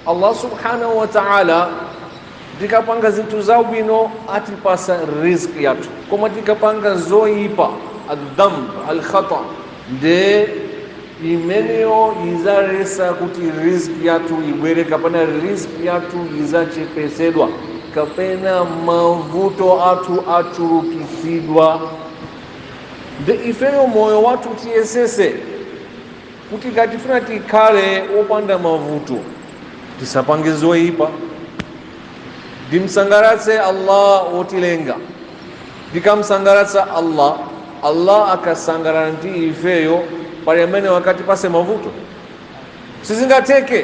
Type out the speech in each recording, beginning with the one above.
Allah subhanahu wa ta'ala tikapanga zinthu zabwino atipasa riziki yathu koma tikapanga zoyipa adhamb alkhata nde imeneyo izaletsa kuti riziki yathu ibwere kapena riziki yathu izachepetsedwa kapena mavuto athu achulukitsidwa nde ifeyo moyo wathu tiyesese kuti ngati tifuna tikhale opanda mavuto tisapange zoyipa ndimsangalatse allah wotilenga ndikamsangalatsa allah allah akasangalala ndi ifeyo pali amene angatipatse mavuto sizingatheke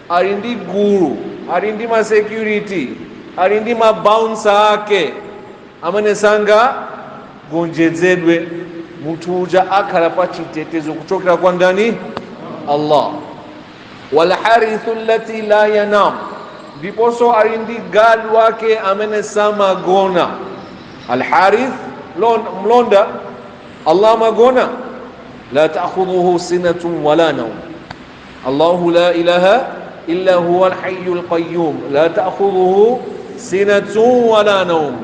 ali ndi gulu, ali ndi ma security, ali ndi ma bouncer ake amene sangagonjetsedwe. Munthu uja akhala pa chitetezo kuchokera kwa ndani? Allah. Wal harisu allati la yanam, ndiponso ali ndi gadi wake amene samagona. Al haris mlonda, Allah samagona. La ta'khudhuhu sinatun wala nawm, Allahu la ilaha illa huwa alhayyul qayyum la ta'khudhuhu sinatun wa la nawm.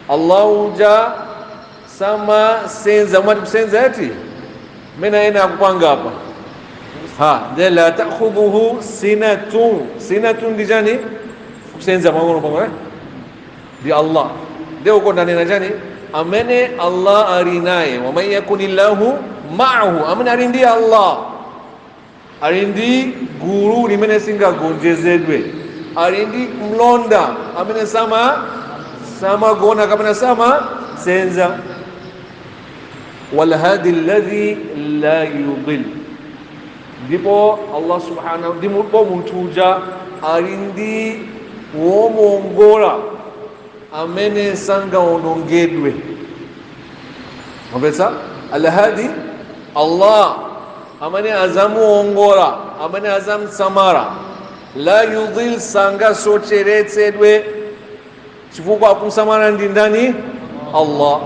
Allahu ja sama senza mwati kusenza eti mena yena akupanga hapa ha de la ta'khudhuhu sinatun sinatun ndi chani kusenza mwangono pang'ono eh? ndi Allah de uko ndanena chani amene Allah ali naye waman yakunillahu ma'ahu amene ali ndi Allah ali ndi gulu limene silingagonjetsedwe ali ndi mlonda amene sama samagona kapena samasinza walhadi alladhi la yudil ndipo allah subhanahu ndipo munthu uja ali ndi womuongola amene sangaonongedwe mwapetsa alhadi allah amene azamuongola amene azamsamala la yudhil sangasocheretsedwe chifukwa akumsamala ndi ndani allah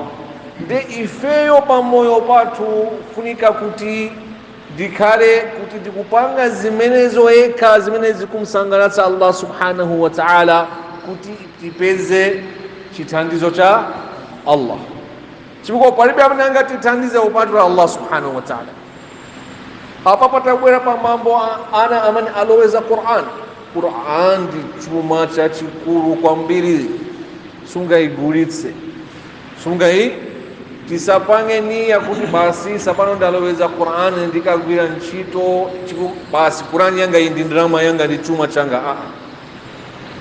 nde ifeyo pamoyo pathu funika kuti ndikhale kuti ndikupanga zimenezo zokha zimene zikumsangalatsa allah subhanahu wa taala kuti tipeze chithandizo cha allah chifukwa palibe amene angatithandize kupatula allah subhanahu wa taala apa patabwera pa mbambo a- ana amene aloweza quran quran ndi chuma chachikulu kwambiri sungayigulitse sungayi tisapange niya kuti basi sapano ndaloweza qur'ani ndikagwira ntchito chiku- basi qur'ani yanga iyi ndi ndalama yanga ndi chuma changa aa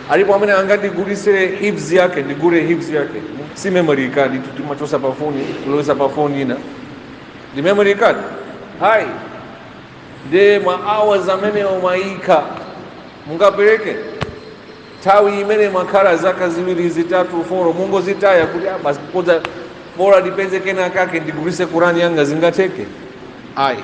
alipo amene angandigulitse hifz yake ndigule hifz yake si memory card imeneyo timachotsa pa foni kulowetsa pa foni ina ndi memory card ayi ndi ma hours amene mumayika mungapereke nthawi imene mwakhala zaka ziwiri zitatu foro mungozitaya kuti "Ah, basi koma bora ndipeze kena kake ndigulitse kurani yanga zingatheke ayi